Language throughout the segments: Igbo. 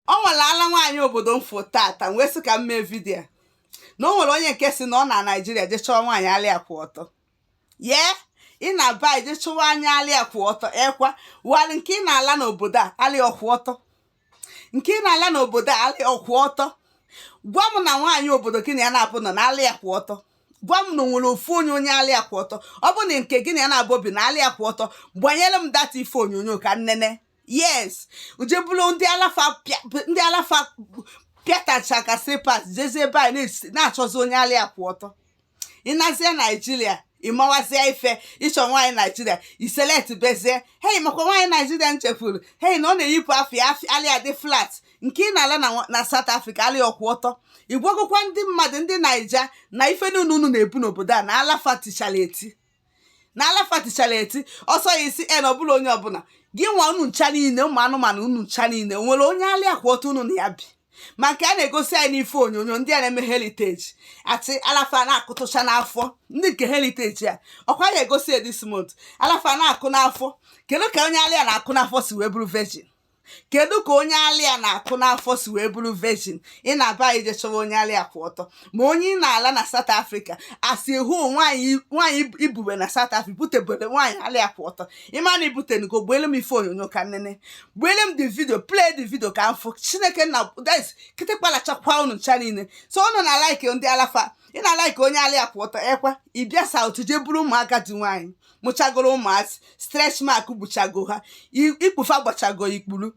ọ nwere ala nwaanyị obodo m fụ tata m wee sị ka m mee vidiyo na o nwere onye nke sị na ọ na naijiria je chọọ nwaanyị ala ya kwụ ọtọ ye ị naba je chọwa onye ala ya kwụ ọtọ ekwa wali nke ị na-ala n'obodo a ala ya ọ kwụ ọtọ nke ị na-ala n'obodo a ala ya ọ kwụ ọtọ gwa m na nwaanyị obodo gị na ya na-aba ụnọ na ala ya kwụ ọtọ gwa m na o nwere ofu onye onye ala ya kwụ ọtọ ọ bụ na nke gị na ya na-abụ obi na ala ya kwụ ọtọ gbanyere m that ife onyonyo ka m nene yes o je buru ndị ala fa ndị ala fa pịatacha ka slippers jezie be anyị na-achọzi onye ala ya kwụ ọtọ ị nazie naijiria ị mawazie ife ị chọ nwaanyị naijiria ị selectbezie hei makwa nwaanyị naijiria nchefuru hei na ọ na-eyipụ afe ya ala ya dị flat nke ị na-ala na South Africa ala ya ọ kwụ ọtọ ị gwagokwa ndị mmadụ ndị naija na ife niile unu na-ebu n'obodo a na ala fa tichara eti na ala fa tichara eti ọsọ ya isi en ọbụla onye ọbụla gị nwa unu ncha niile ụmụ anụmanụ unu ncha niile nwere onye ala ya kwụ ọtọ unu na ya bi ma nke a na-egosi anyị n'ife onyonyo ndị a na-eme heritage ati ala fa na-akụtụcha n'afọ ndị nke heritage a ọkwa ya egosi ya this month ala fa na-akụ n'afọ kedu ka onye ala ya na-akụ n'afọ si wee bụrụ virgin kedu ka onye ala ya na-akụ n'afọ si wee bụrụ virgin ị naba ị je chọwa onye ala ya kwụ ọtọ ma onye ị na-ala na South Africa asị hụ nwaanyị nwaanyị ibube na South Africa butebere nwaanyị ala ya kwụ ọtọ ị ma na i butenugo gbeele m ife onyonyo ka m nene gbeele m the video play the video ka m fụ chineke nna guys kịtịkpa lachakwa unu ncha niile so unu na like ndị ala fa ị na like onye ala ya kwụ ọtọ ekwa ị bịa South jee buru ụmụ agadi nwaanyị mụchagoro ụmụazị stretch mark gbuchago ha i- ikpu fa gbachago ikpuru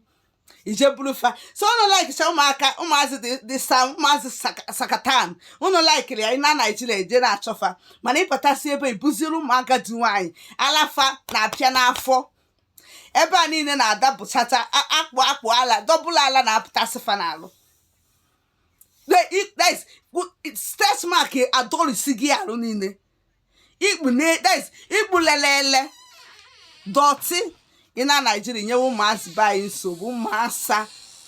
i je buru fa so unu likecha ụmụaka ụmụazị dị dị sa ụmụazị saka- sakatan unu likeri ya ị na naijiria i je na-achọ fa mana ị batasị ebe i buziri ụmụ agadi nwaanyị ala fa na-apịa n'afọ ebe a niile na-adapụchata a- akpụ akpụ ala dọbụla ala na-apụtasị fa n'arụ The- it- that is, good- it- stretch mark adọrisi gị arụ niile ikpu na that is ikpu lelele dọtị ị na naijiria nyewe ụmụazị be anyị nsogbu ụmụ asa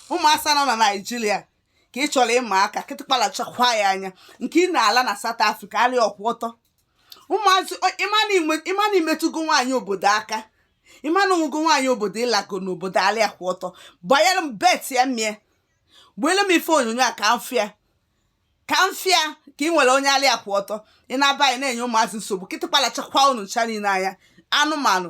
ụmụ asa nọ na naijiria ka ị chọrọ ịma aka kịtịkpa lachakwa ya anya nke ị na-ala na South Africa ala ya ọ kwụ ọtọ ụmụazị o- ị ma na inwe- ị ma na i metụgo nwaanyị obodo aka ị ma na o nwego nwaanyị obodo ị lago n'obodo ala ya kwụ ọtọ gbanyere m bet ya mie gbeele m ife onyonyo a ka m fụ ya ka m fụ ya ka ị nwere onye ala ya kwụ ọtọ ị na be anyị na-enye ụmụazị nsogbu kịtịkpa lachakwa unu ncha niile anya anụmanụ